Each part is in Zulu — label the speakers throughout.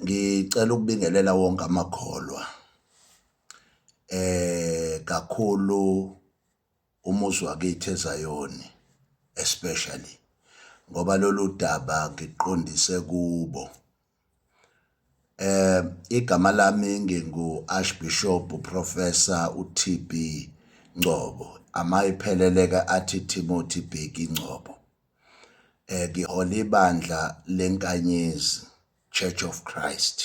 Speaker 1: Ngicela ukubingelela wonke amakholwa kakhulu umuzi wakithi eZayoni especially ngoba lolu daba ngiqondise kubo. Igama lami ngingu-Archbishop Professor uT_B Ngcobo, amayiphelele-ke athi Timothy Bheki Ngcobo. um ngihola ibandla leNkanyezi Church of Christ.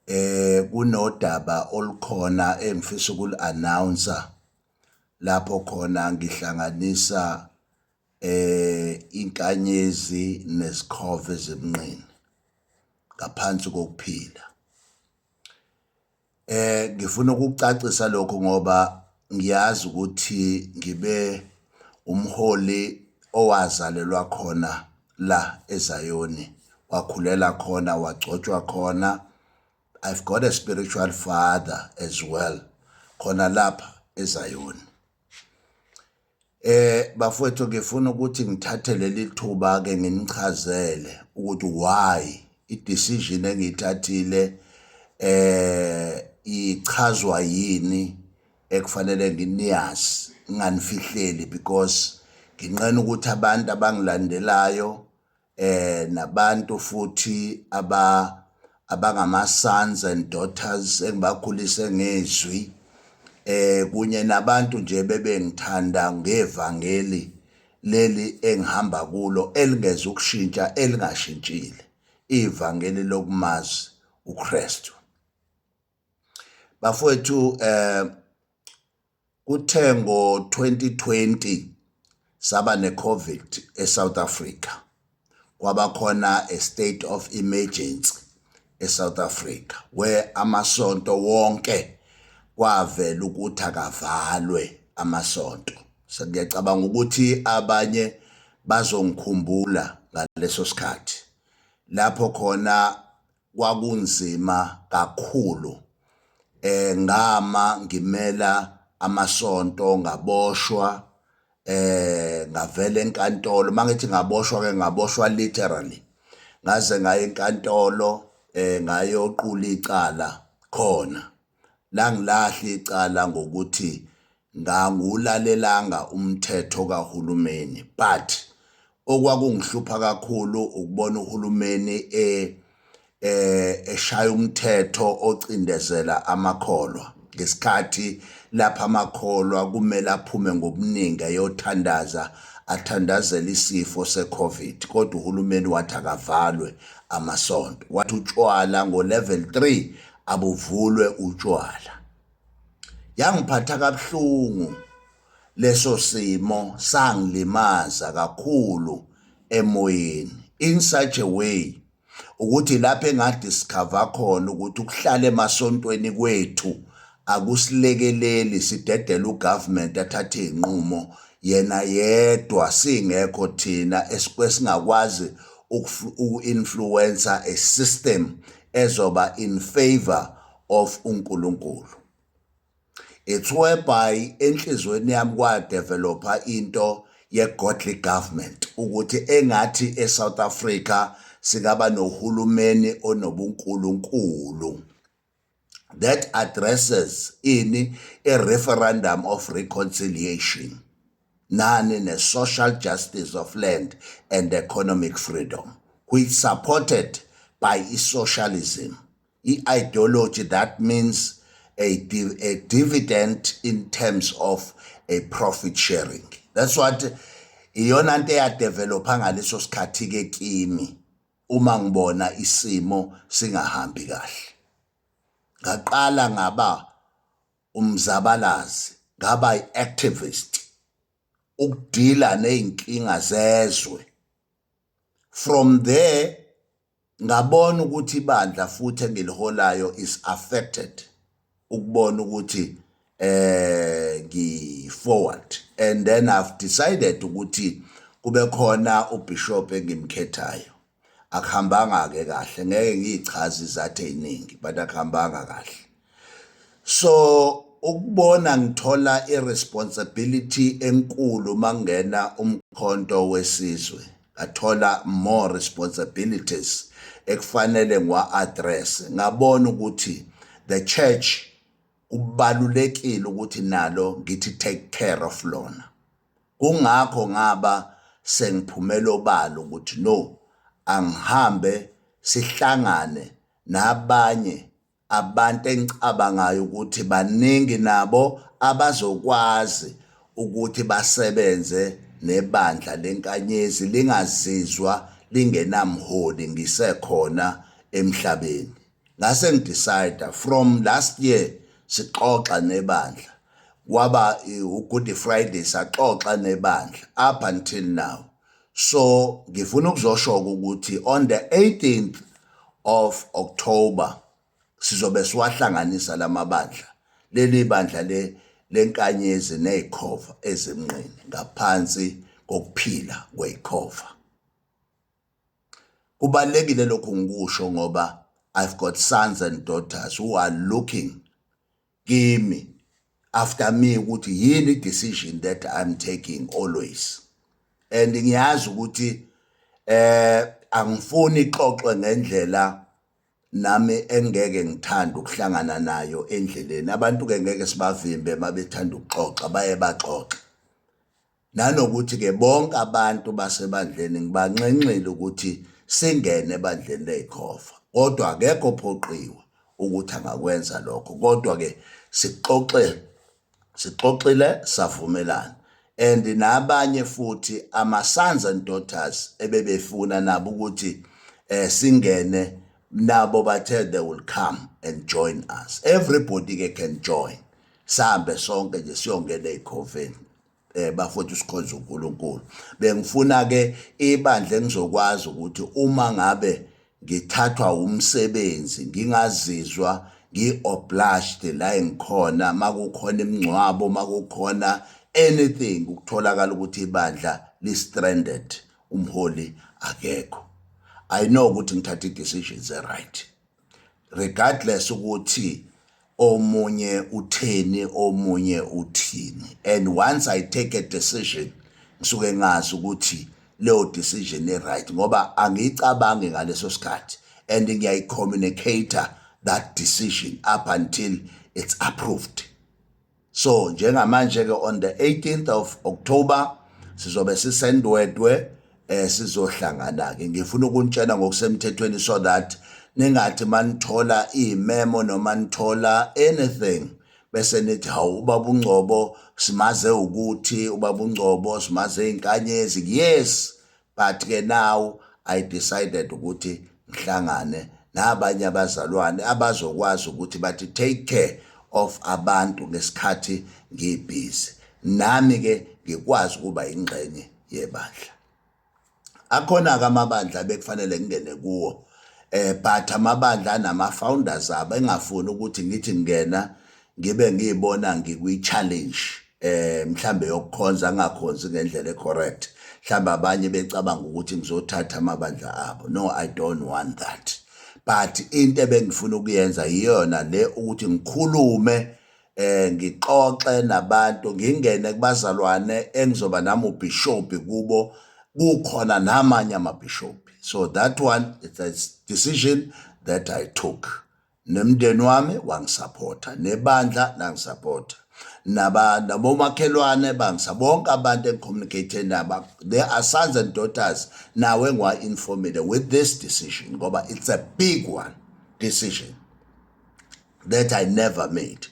Speaker 1: Eh kunodaba olukhona engifisa ukuli-announce lapho khona ngihlanganisa eh inkanyezi nezikhova ezimnqini ngaphansi kokuphila. Eh ngifuna ukucacisa lokho ngoba ngiyazi ukuthi ngibe umholi owazalelwa khona la eZayoni, wakhulela khona, wagcotshwa khona. I've got a spiritual father as well khona lapha eZayoni. Eh bafowethu ngifuna ukuthi ngithathe leli thuba ke nginichazele ukuthi why i-decision engiyithathile eh ichazwa yini ekufanele nginiyazi nginganifihleli because nginqena ukuthi abantu abangilandelayo eh nabantu futhi aba abangama sons and daughters engibakhulise ngezwi eh kunye nabantu nje bebengithanda ngevangeli leli engihamba kulo elingeza ukushintsha elingashintshile ivangeli lokumazi uKristu bafowethu eh kuthe ngo-2020 saba ne-covid e-south africa kwaba khona a state of emergency e-south africa where amasonto wonke kwavela ukuthi akavalwe amasonto sengiyacabanga ukuthi abanye bazongikhumbula ngaleso sikhathi lapho khona Kwakunzima kakhulu. Eh ngama ngimela amasonto ngaboshwa eh ngavela enkantolo mangithi ngaboshwa ke ngaboshwa literally ngaze ngaye enkantolo eh ngayoqula icala khona langilahla icala ngokuthi ngangulalelanga umthetho kahulumeni but okwakungihlupha kakhulu ukubona uhulumeni e eh eshaya umthetho ocindezela amakholwa ngesikhathi lapha amakholwa kumele aphume ngobuningi ayothandaza athandazela isifo secovid kodwa uhulumeni wathi akavalwe amasonto wathi utshwala ngo-level 3 abuvulwe utshwala yangiphatha kabuhlungu leso simo sangilimaza kakhulu emoyeni in such a way ukuthi lapho engadiscover khona ukuthi ukuhlala emasontweni kwethu akusilekeleli sidedela ugovernment athathe izinqumo yena yedwa singekho thina esikwe singakwazi uku-influencer a system ezoba in favour of uNkulunkulu. It's whereby enhlizweni yami kwadevelopha into ye-godly government ukuthi engathi e-South Africa singaba nohulumeni onobunkulunkulu that addresses ini a referendum of reconciliation nani ne-social justice of land and economic freedom, which supported by i-socialism, i-ideology that means a, div a dividend in terms of a profit sharing. That's what iyona nto eyadevelopha ngaleso sikhathi-ke kimi uma ngibona isimo singahambi kahle. Ngaqala ngaba umzabalazi ngaba i-activist ukudila nezinkinga zezwe from there ngabona ukuthi ibandla futhi engiliholayo is affected ukubona ukuthi eh ngi forward and then i've decided ukuthi kube khona ubishop engimkhethayo akuhambanga ke kahle ngeke ngiyichaze izathu eziningi but akuhambanga kahle so ukubona ngithola iresponsibility enkulu mangena umkhonto wesizwe ngathola more responsibilities ekufanele ngiwa-address ngabona ukuthi the church kubalulekile ukuthi nalo ngithi take care of lona Kungakho ngaba sengiphumela obala ukuthi no angihambe sihlangane nabanye abantu engicabangayo ukuthi baningi nabo abazokwazi ukuthi basebenze nebandla lenkanyezi lingazizwa lingenamholi ngisekhona emhlabeni. ngase ngidecide from last year sixoxa nebandla kwaba uGood Friday saxoxa nebandla up until now so ngifuna ukuzosho ukuthi on the 18th of October sizobe siwahlanganisa lamabandla leli bandla le lenkanyezi nezikhova ezimnqini ngaphansi kokuphila kwezikhova Kubalulekile lokhu ngikusho ngoba I've got sons and daughters who are looking kimi after me ukuthi yini decision that I'm taking always and ngiyazi ukuthi eh angifuni ixoxwe ngendlela nami engeke ngithanda ukuhlangana nayo endleleni abantu ke ngeke sibavimbe mabethanda ukuxoxa baye baxoxa Nanokuthi-ke bonke abantu basebandleni ngibanxenxile ukuthi singene ebandleni ley'khova, kodwa akekho ophoqiwe ukuthi angakwenza lokho. Kodwa-ke sixoxe, sixoxile savumelana and nabanye futhi ama-sons and daughters ebebefuna nabo ukuthi um singene nabo bathe they will come and join us. Everybody-ke can join, sihambe sonke nje siyongena ey'khoveni. eh bafowethu sikhonza uNkulunkulu bengifuna ke ibandla engizokwazi ukuthi uma ngabe ngithathwa umsebenzi ngingazizwa ngi-obliged la engikhona makukhona imingcwabo makukhona anything ukutholakala ukuthi ibandla li-stranded umholi akekho i know ukuthi ngithatha i-decisions e-right regardless ukuthi omunye utheni omunye uthini and once i take a decision ngisuke ngazi ukuthi leyo decision e right ngoba angiyicabangi ngaleso sikhathi and ngiyayi communicate that decision up until it's approved so njengamanje ke on the 18th of October sizobe sisendwedwe eh sizohlangana ke ngifuna ukunitshela ngokusemthethweni so that ningathi manithola imemo noma nithola anything bese nithi hawu ubaba ungcobo simaze ukuthi ubaba ungcobo simaze inkanyezi yes but ke now i decided ukuthi ngihlangane nabanye abazalwane abazokwazi ukuthi bathi take care of abantu ngesikhathi ngibhizi nami ke ngikwazi ukuba ingxenye yebandla akhona ke amabandla bekufanele ngingene kuwo eh but amabandla anama founders abo engafuni ukuthi ngithi ngena ngibe ngiyibona ngikwi challenge eh mhlambe yokukhonza angakhonzi ngendlela ecorrect mhlambe abanye becabanga ukuthi ngizothatha amabandla abo no i don't want that but into ebengifuna ukuyenza iyona le ukuthi ngikhulume eh ngixoxe nabantu ngingene kubazalwane engizoba nami ubishop kubo kukhona namanye amabishop so that one it's a decision that i took Nemndeni wami wangisaphotha, nebandla langisaphotha, naba nabomakhelwane bangisa bonke abantu engicommunicate nabo they are sons and daughters nawe ngiwa-informile with this decision ngoba it's a big one decision that i never made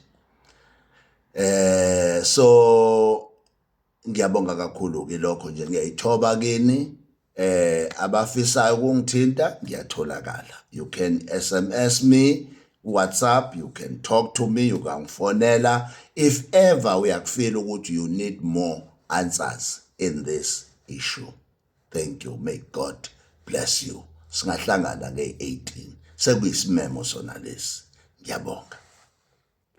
Speaker 1: eh so Ngiyabonga kakhulu ke lokho nje ngiyayithoba kini eh abafisayo ukungithinta ngiyatholakala you can sms me WhatsApp, you can talk to me, you can fonela. If ever uyakufeel ukuthi you need more answers in this issue. Thank you. May God bless you. Singahlangana nge-18. Sekuyisimemo sona lesi. Ngiyabonga.